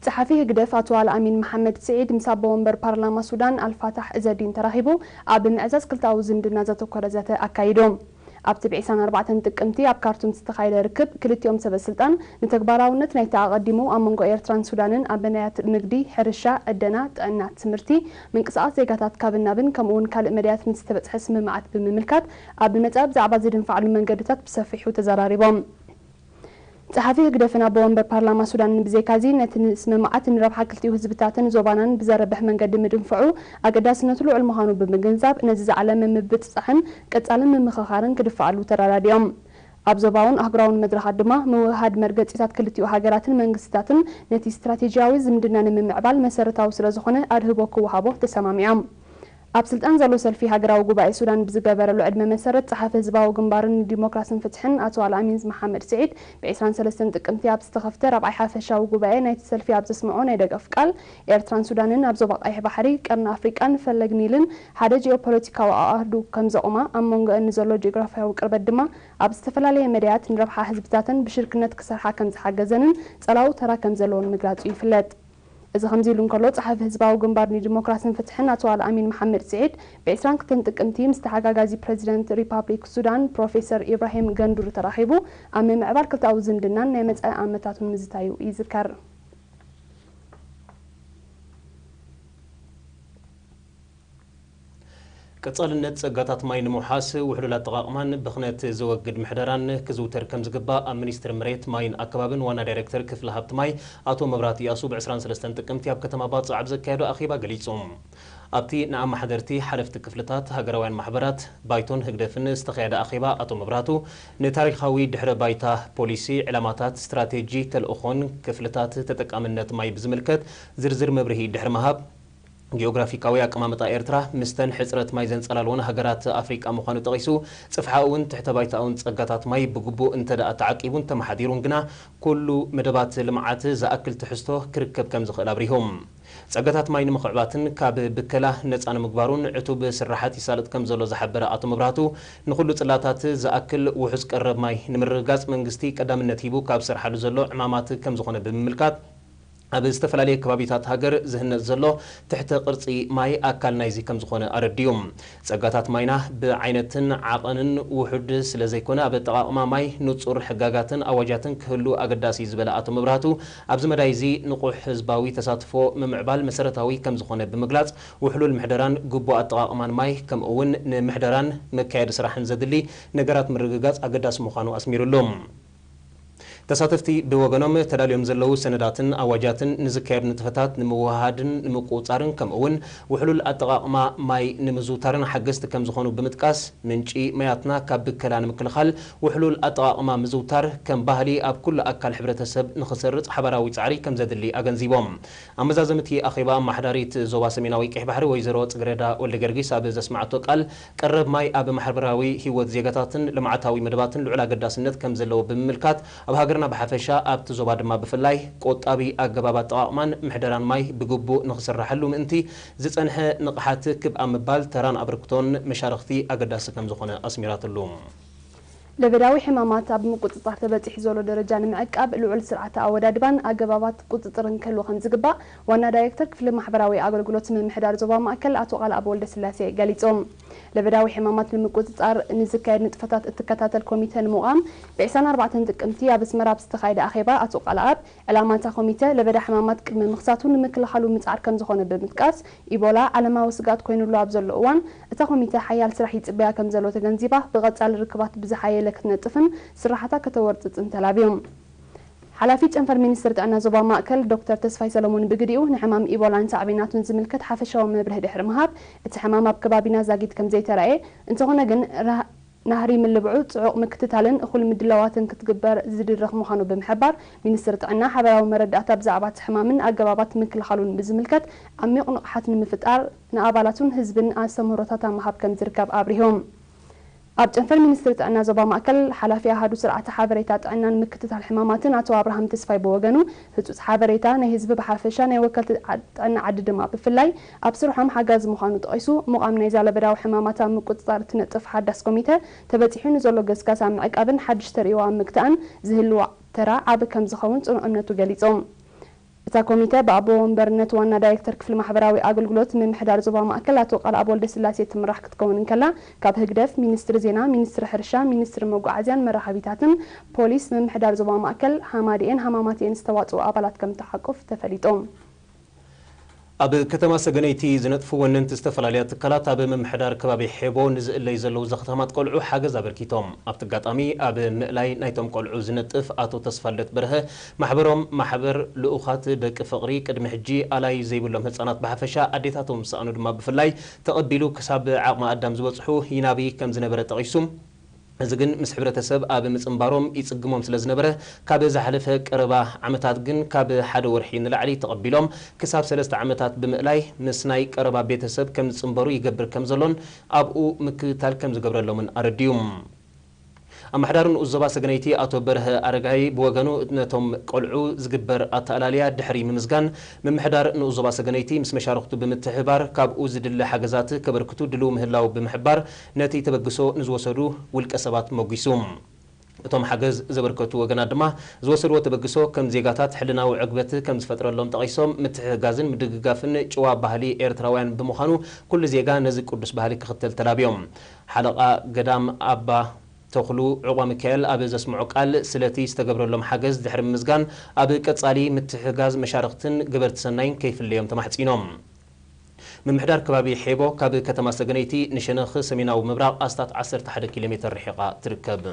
ጸሓፊ ህግደፍ ኣቶ ኣልኣሚን መሓመድ ስዒድ ምስ ኣቦ ወንበር ፓርላማ ሱዳን ኣልፋታሕ እዘዲን ተራኺቡ ኣብ ምዕዛዝ ክልተኣዊ ዝምድና ዘተኮረ ዘተ ኣካይዱ። ኣብቲ ብ ዕስራን ኣርባዕተን ጥቅምቲ ኣብ ካርቱም ዝተኻየደ ርክብ ክልቲኦም ሰበስልጣን ንተግባራውነት ናይቲ ኣቐዲሙ ኣብ መንጎ ኤርትራን ሱዳንን ኣብ መዳያት ንግዲ፣ ሕርሻ፣ ዕደና፣ ጥዕና፣ ትምህርቲ፣ ምንቅስቓስ ዜጋታት ካብን ናብን ከምኡ'ውን ካልእ መዳያት ንዝተበጽሐ ስምምዓት ብምምልካት ኣብ መጻኢ ብዛዕባ ዝድንፋዕሉ መንገድታት ብሰፊሑ ተዘራሪቦም። ጸሓፊ ህግደፍን ኣቦ ወንበር ፓርላማ ሱዳንን ብዘይካዚ፣ ነቲ ንስምምዓት ንረብሓ ክልቲኡ ህዝብታትን ዞባናን ብዘርብሕ መንገዲ ምድንፋዑ ኣገዳስነቱ ልዑል ምዃኑ ብምግንዛብ፣ ነዚ ዝዓለመ ምብጽጻሕን ቀጻሊ ምምኽኻርን ክድፋኣሉ ተረዳዲኦም። ኣብ ዞባውን ኣህጉራውን መድረኻት ድማ ምውህሃድ መርገጺታት ክልቲኡ ሃገራትን መንግስትታትን ነቲ ስትራቴጂያዊ ዝምድና ንምምዕባል መሰረታዊ ስለዝኾነ ኣድህቦ ክወሃቦ ተሰማሚዖም። ኣብ ስልጣን ዘሎ ሰልፊ ሃገራዊ ጉባኤ ሱዳን ብዝገበረሉ ዕድመ መሰረት ጸሓፊ ህዝባዊ ግንባርን ንዲሞክራስን ፍትሕን ኣቶ ኣልኣሚንዝ መሓመድ ስዒድ ብዕስራን ሰለስተን ጥቅምቲ ኣብ ዝተኸፍተ ራብዓይ ሓፈሻዊ ጉባኤ ናይቲ ሰልፊ ኣብ ዘስመዖ ናይ ደገፍ ቃል ኤርትራን ሱዳንን ኣብ ዞባ ቀይሕ ባሕሪ፣ ቀርኒ ኣፍሪቃን ፈለግ ኒልን ሓደ ጂኦፖለቲካዊ ኣኣህዱ ከምዘቑማ ኣብ መንጎኤን ንዘሎ ጂኦግራፍያዊ ቅርበት ድማ ኣብ ዝተፈላለየ መዳያት ንረብሓ ህዝብታተን ብሽርክነት ክሰርሓ ከምዝሓገዘንን ጸላዊ ተራ ከምዘለዎን ምግላጹ ይፍለጥ። እዚ ከምዚ'ሉ እንከሎ፣ ጸሓፊ ህዝባዊ ግንባር ንዲሞክራስን ፍትሕን ኣቶ ኣልኣሚን መሓመድ ስዒድ፣ ብዕስራን ክልተን ጥቅምቲ ምስ ተሓጋጋዚ ፕረዚደንት ሪፓብሊክ ሱዳን ፕሮፌሰር ኢብራሂም ገንዱር ተራኺቡ ኣብ ምምዕባል ክልተኣዊ ዝምድናን ናይ መጻኢ ኣመታቱን ምዝታዩ ይዝከር። ቀጻልነት ጸጋታት ማይ ንምውሓስ ውሕሉል ኣጠቓቕማን ብኽነት ዘወግድ ምሕደራን ክዝውተር ከምዝግባእ ኣብ ሚኒስትሪ መሬት፣ ማይን ኣከባብን ዋና ዳይሬክተር ክፍሊ ሃብቲ ማይ ኣቶ መብራህቱ ያሱ ብ ዕስራን ሰለስተን ጥቅምቲ ኣብ ከተማ ባጽዕ ኣብ ዘካየዶ ኣኼባ ገሊጹ። ኣብቲ ንኣመሓደርቲ፣ ሓለፍቲ ክፍልታት፣ ሃገራውያን ማሕበራት፣ ባይቶን ህግደፍን ዝተኻየደ ኣኼባ ኣቶ መብራህቱ ንታሪኻዊ ድሕረ ባይታ፣ ፖሊሲ፣ ዕላማታት፣ ስትራቴጂ፣ ተልእኾን ክፍልታት ተጠቃምነት ማይ ብዝምልከት ዝርዝር መብርሂ ድሕሪ ምሃብ ጂኦግራፊካዊ ኣቀማምጣ ኤርትራ ምስተን ሕጽረት ማይ ዘንጸላልወን ሃገራት ኣፍሪቃ ምዃኑ ጠቒሱ፣ ጽፍሓኡውን ትሕተ-ባይታኡን ጸጋታት ማይ ብግቡእ እንተድኣ ተዓቂቡን ተመሓዲሩን ግና ኩሉ መደባት ልምዓት ዝኣክል ትሕዝቶ ክርከብ ከምዝኽእል ኣብሪሁ። ጸጋታት ማይ ንምኽዕባትን ካብ ብከላ ነጻ ንምግባሩን ዕቱብ ስርሓት ይሳለጥ ከምዘሎ ዝሓበረ ኣቶ መብራህቱ፣ ንኹሉ ጽላታት ዝኣክል ውሑስ ቀረብ ማይ ንምርግጋጽ መንግስቲ ቀዳምነት ሂቡ ካብ ዝሰርሓሉ ዘሎ ዕማማት ከምዝኾነ ብምምልካት፣ ኣብ ዝተፈላለየ ከባቢታት ሃገር ዝህነጽ ዘሎ ትሕተ ቅርጺ ማይ ኣካል ናይዚ ከምዝኾነ ኣረዲኡ። ጸጋታት ማይና ብዓይነትን ዓቐንን ውሑድ ስለዘይኮነ ኣብ ኣጠቓቕማ ማይ ንጹር ሕጋጋትን ኣዋጃትን ክህሉ ኣገዳሲ'ዩ ዝበለ ኣቶ መብራህቱ ኣብዚ መዳይ እዚ ንቑሕ ህዝባዊ ተሳትፎ ምምዕባል መሰረታዊ ከምዝኾነ ብምግላጽ ውሕሉል ምሕደራን ግቡእ ኣጠቓቕማን ማይ ከምኡ'ውን ንምሕደራን መካየዲ ስራሕን ዘድሊ ነገራት ምርግጋጽ ኣገዳሲ ምዃኑ ኣስሚርሉ። ተሳተፍቲ ብወገኖም ተዳልዮም ዘለዉ ሰነዳትን ኣዋጃትን ንዝካየዱ ንጥፈታት ንምውህሃድን ንምቁፅፃርን ከምኡ እውን ውሕሉል ኣጠቓቕማ ማይ ንምዝውታርን ሓገዝቲ ከምዝኾኑ ብምጥቃስ ምንጪ ማያትና ካብ ብከላ ንምክልኻል ውሕሉል ኣጠቓቕማ ምዝውታር ከም ባህሊ ኣብ ኩሉ ኣካል ሕብረተሰብ ንኽሰርፅ ሓባራዊ ፃዕሪ ከምዘድሊ ኣገንዚቦም። ኣመዛዘሚ እቲ ኣኼባ ኣማሓዳሪት ዞባ ሰሜናዊ ቀይሕ ባሕሪ ወይዘሮ ፅግረዳ ወልደገርጊስ ኣብ ዘስመዓቶ ቃል ቀረብ ማይ ኣብ ማሕበራዊ ህይወት ዜጋታትን ልምዓታዊ መደባትን ልዑል ኣገዳስነት ከም ዘለዎ ብምምልካት፣ ኣብ ሃገርና ብሓፈሻ ኣብቲ ዞባ ድማ ብፍላይ ቆጣቢ ኣገባብ ኣጠቓቕማን ምሕደራን ማይ ብግቡእ ንኽስራሓሉ ምእንቲ ዝፀንሐ ንቕሓት ክብ ኣብ ምባል ተራን ኣበርክቶን መሻርኽቲ ኣገዳሲ ከም ዝኾነ ኣስሚራትሉ። ለበዳዊ ሕማማት ኣብ ምቁጽጻር ተበጺሑ ዘሎ ደረጃ ንምዕቃብ ልዑል ስርዓተ ኣወዳድባን ኣገባባት ቁጽጽርን ክህሉ ከምዝግባእ ዋና ዳይሬክተር ክፍሊ ማሕበራዊ ኣገልግሎት ምምሕዳር ዞባ ማእከል ኣቶ ቃልኣብ ወልደስላሴ ገሊጾም። ለበዳዊ ሕማማት ንምቁጽጻር ንዝካየድ ንጥፈታት እትከታተል ኮሚተ ንምቛም ብ ዕስራን ኣርባዕተን ጥቅምቲ ኣብ ኣስመራ ኣብ ዝተኻየደ ኣኼባ ኣቶ ቃልኣብ ዕላማ እታ ኮሚተ፣ ለበዳ ሕማማት ቅድመ ምኽሳቱ ንምክልኻሉ ምጽዓር ከምዝኾነ ብምጥቃስ፣ ኢቦላ ዓለማዊ ስግኣት ኮይኑሉ ኣብ ዘሎ እዋን፣ እታ ኮሚተ ሓያል ስራሕ ይጽበያ ከምዘሎ ተገንዚባ፣ ብቐጻሊ ርክባት ብዝሓየለ ክትነጥፍን ስርሓታ ከተወርጽጽን ተላብዮም። ሓላፊ ጨንፈር ሚኒስትሪ ጥዕና ዞባ ማእከል ዶክተር ተስፋይ ሰሎሞን ብግዲኡ፣ ንሕማም ኢቦላን ሳዕቤናቱን ዝምልከት ሓፈሻዊ መብርሂ ድሕሪ ምሃብ፣ እቲ ሕማም ኣብ ከባቢና ዛጊት ከምዘይተራእየ፣ እንተኾነ ግን፣ ናህሪ ምልብዑ ፅዑቕ ምክትታልን እኹል ምድላዋትን ክትግበር ዝድርኽ ምዃኑ ብምሕባር፣ ሚኒስትሪ ጥዕና ሓበራዊ መረዳእታ ብዛዕባ እቲ ሕማምን ኣገባባት ምክልኻሉን ብዝምልከት ዓሚቕ ንቕሓት ንምፍጣር ንኣባላቱን ህዝብን ኣስተምህሮታት ኣብ ምሃብ ከምዝርከብ ኣብሪሆም። ኣብ ጨንፈር ሚኒስትሪ ጥዕና ዞባ ማእከል ሓላፊ ኣሃዱ ስርዓተ ሓበሬታ ጥዕናን ምክትታል ሕማማትን ኣቶ ኣብርሃም ተስፋይ ብወገኑ፣ ህፁፅ ሓበሬታ ናይ ህዝቢ ብሓፈሻ ናይ ወከልቲ ጥዕና ዓዲ ድማ ብፍላይ፣ ኣብ ስርሖም ሓጋዚ ምዃኑ ጠቒሱ፣ ምቛም ናይዛ ለበዳዊ ሕማማት ኣብ ምቁጽጻር እትነጥፍ ሓዳስ ኮሚተ፣ ተበጺሑ ንዘሎ ገስጋስ ኣብ ምዕቃብን ሓድሽ ተርእዮ ኣብ ምግታእን ዝህልዋ ተራ ዓቢ ከምዝኸውን ጽኑዕ እምነቱ ገሊጹ። እታ ኮሚተ ብኣቦ ወንበርነት ዋና ዳይረክተር ክፍሊ ማሕበራዊ ኣገልግሎት ምምሕዳር ዞባ ማእከል ኣቶ ቃልኣብ ወልደስላሴ እትምራሕ ክትከውን እንከላ፣ ካብ ህግደፍ፣ ሚኒስትሪ ዜና፣ ሚኒስትሪ ሕርሻ፣ ሚኒስትሪ መጓዓዝያን መራኸቢታትን፣ ፖሊስ፣ ምምሕዳር ዞባ ማእከል፣ ሃማደኤን ሃማማተኤን ዝተዋጽኡ ኣባላት ከምትሓቁፍ ተፈሊጡ። ኣብ ከተማ ሰገነይቲ ዝነጥፉ ወነንቲ ዝተፈላለያ ትካላት ኣብ ምምሕዳር ከባቢ ሔቦ ንዝእለዩ ዘለዉ ዘኽታማት ቆልዑ ሓገዝ ኣበርኪቶም። ኣብቲ ኣጋጣሚ ኣብ ምእላይ ናይቶም ቆልዑ ዝነጥፍ ኣቶ ተስፋልደት በርሀ ማሕበሮም ማሕበር ልኡኻት ደቂ ፍቕሪ ቅድሚ ሕጂ ኣላዪ ዘይብሎም ህጻናት ብሓፈሻ ኣዴታቶም ዝሰኣኑ ድማ ብፍላይ ተቐቢሉ ክሳብ ዓቕመ ኣዳም ዝበጽሑ ይናቢ ከምዝነበረ ጠቒሱ እዚ ግን ምስ ሕብረተሰብ ኣብ ምጽንባሮም ይጽግሞም ስለ ዝነበረ፣ ካብ ዝሓለፈ ቀረባ ዓመታት ግን ካብ ሓደ ወርሒ ንላዕሊ ተቐቢሎም ክሳብ ሰለስተ ዓመታት ብምእላይ ምስ ናይ ቀረባ ቤተሰብ ከም ዝጽንበሩ ይገብር ከም ዘሎን ኣብኡ ምክትታል ከም ዝገብረሎምን ኣረዲኡ። ኣመሓዳሪ ንኡስ ዞባ ሰገነይቲ ኣቶ በርሀ ኣረጋይ ብወገኑ ነቶም ቆልዑ ዝግበር ኣተኣላልያ ድሕሪ ምምዝጋን ምምሕዳር ንኡስ ዞባ ሰገነይቲ ምስ መሻርኽቱ ብምትሕብባር ካብኡ ዝድለ ሓገዛት ከበርክቱ ድልው ምህላው ብምሕባር ነቲ ተበግሶ ንዝወሰዱ ውልቀ ሰባት ሞጒሱ። እቶም ሓገዝ ዘበርከቱ ወገናት ድማ ዝወሰድዎ ተበግሶ ከም ዜጋታት ሕልናዊ ዕግበት ከም ዝፈጥረሎም ጠቒሶም፣ ምትሕግጋዝን ምድግጋፍን ጭዋ ባህሊ ኤርትራውያን ብምዃኑ ኩሉ ዜጋ ነዚ ቅዱስ ባህሊ ክኽተል ተላብዮም። ሓለቓ ገዳም ኣባ ተኽሉ ዑቕባሚካኤል ኣብ ዘስምዖ ቃል፣ ስለቲ ዝተገብረሎም ሓገዝ ድሕሪ ምምስጋን፣ ኣብ ቀጻሊ ምትሕግጋዝ መሻርኽትን ገበርቲ ሰናይን ከይፍለዮም ተማሕጺኖም። ምምሕዳር ከባቢ ሔቦ ካብ ከተማ ሰገነይቲ ንሸነኽ ሰሜናዊ ምብራቕ ኣስታት ዓሰርተ ሓደ ኪሎ ሜተር ርሒቓ ትርከብ።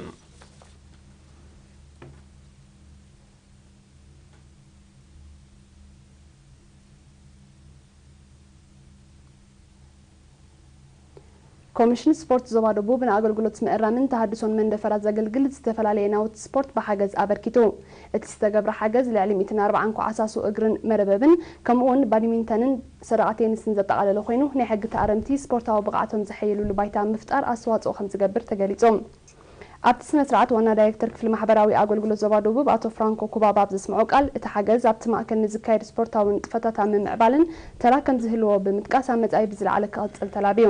ኮሚሽን ስፖርት ዞባ ደቡብ ንኣገልግሎት ምእራምን ተሃድሶን መንደፈራ ዘገልግል ዝተፈላለየ ናውቲ ስፖርት ብሓገዝ ኣበርኪቱ። እቲ ዝተገብረ ሓገዝ ልዕሊ ሚእትን ኣርብዓን ኳዓሳሱ እግርን መርበብን ከምኡ እውን ባዲሚንተንን ሰደቓ ቴንስን ዘጠቓለለ ኮይኑ ናይ ሕጊ ተኣረምቲ ስፖርታዊ ብቕዓቶም ዘሐይልሉ ባይታ ኣብ ምፍጣር ኣስተዋፅኦ ከምዝገብር ተገሊፁ። ኣብቲ ስነ-ስርዓት ዋና ዳይሬክተር ክፍሊ ማሕበራዊ ኣገልግሎት ዞባ ደቡብ ኣቶ ፍራንኮ ኩባባ ኣብ ዘስምዖ ቃል፣ እቲ ሓገዝ ኣብቲ ማእከል ንዝካየድ ስፖርታዊ ንጥፈታት ኣብ ምምዕባልን ተራ ከምዝህልዎ ብምጥቃስ ኣብ መጻኢ ብዝለዓለ ክቕጽል ተላብዩ።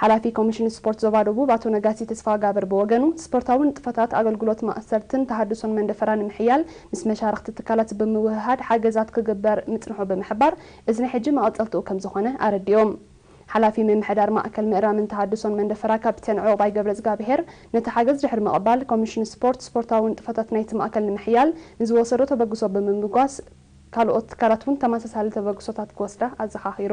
ሓላፊ ኮሚሽን ስፖርት ዞባ ደቡብ ኣቶ ነጋሲ ተስፋጋብር ብወገኑ፣ ስፖርታዊ ንጥፈታት ኣገልግሎት ማእሰርትን ተሃድሶን መንደፈራ ንምሕያል ምስ መሻርኽቲ ትካላት ብምውህሃድ ሓገዛት ክግበር ምጽንሑ ብምሕባር፣ እዚ ናይ ሕጂ መቐጸልትኡ ከምዝኾነ ኣረዲኡ። ሓላፊ ምምሕዳር ማእከል ምእራምን ተሃድሶን መንደፈራ ካፒተን ዑቕባይ ገብረዝጋብሄር፣ ነቲ ሓገዝ ድሕሪ ምቕባል፣ ኮሚሽን ስፖርት፣ ስፖርታዊ ንጥፈታት ናይቲ ማእከል ንምሕያል ንዝወሰዶ ተበግሶ ብምምጓስ፣ ካልኦት ትካላት እውን ተመሳሳሊ ተበግሶታት ክወስዳ ኣዘኻኺሩ።